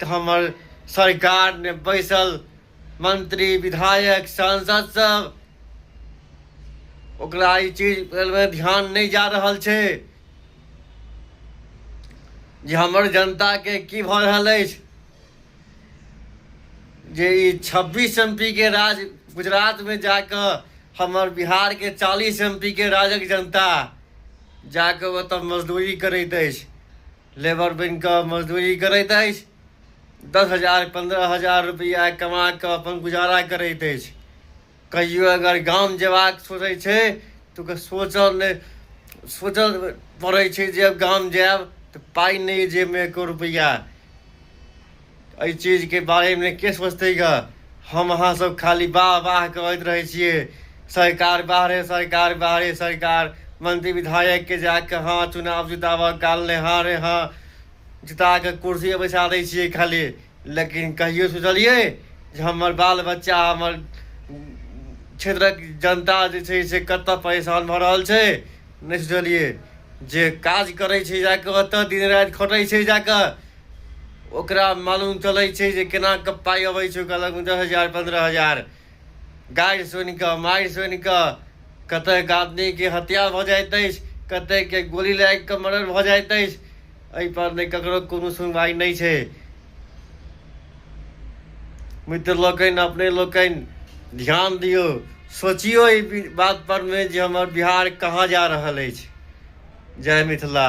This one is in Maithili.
तऽ हमर सरकार ने बैसल मंत्री विधायक सांसद सब ओकरा ई चीज मे ध्यान नहि जा रहल छै जे हमर जनता के की भऽ रहल अछि जे ई छब्बीस एम पी के राज गुजरात में जाकर हमर बिहार के चालीस एम पी के राजक जनता जाकर ओतऽ मजदूरी करैत अछि लेबर बनि कऽ मजदूरी करैत अछि दस हजार पन्द्रह हजार रुपैआ कमा कऽ अपन गुजारा करैत अछि कहियो अगर गाम जेबाक सोचै छै तऽ ओकर सोचल नहि सोचल पड़ै छै जे गाम जायब तऽ पाइ नहि जेबमे एको रुपैआ एहि चीजके बारेमे के सोचतै ग हम अहाँ सब खाली वाह वाह करैत रहै छियै सरकार बाहरे सरकार बाहरे सरकार मंत्री विधायकके जाके हँ चुनाव जिताबऽ काल ने हँ रे हँ जिताके कुर्सी पर बैसा दै छियै खाली लेकिन कहियो सोचलियै जे हमर बाल बच्चा हमर क्षेत्रक जनता जे छै से कतऽ परेशान भऽ रहल छै नहि सोचलियै जे काज करै छै जाकऽ ओतऽ दिन राति खटै छै जाकऽ ओकरा मालूम चलै छै जे केना कऽ पाइ अबै छै ओकरा लगमे दस हजार पन्द्रह हजार गाड़ि सुनि कऽ मारि सुनि कऽ कतेक आदमीके हत्या भऽ जाइत अछि कतेकके गोली लागि कऽ मर्डर भऽ जाइत अछि एहिपर नहि ककरो कोनो सुनवाइ नहि छै मित्र लोकनि अपने लोकनि ध्यान दियौ सोचियौ एहि बातपर मे जे हमर बिहार कहाँ जा रहल अछि जय मिथिला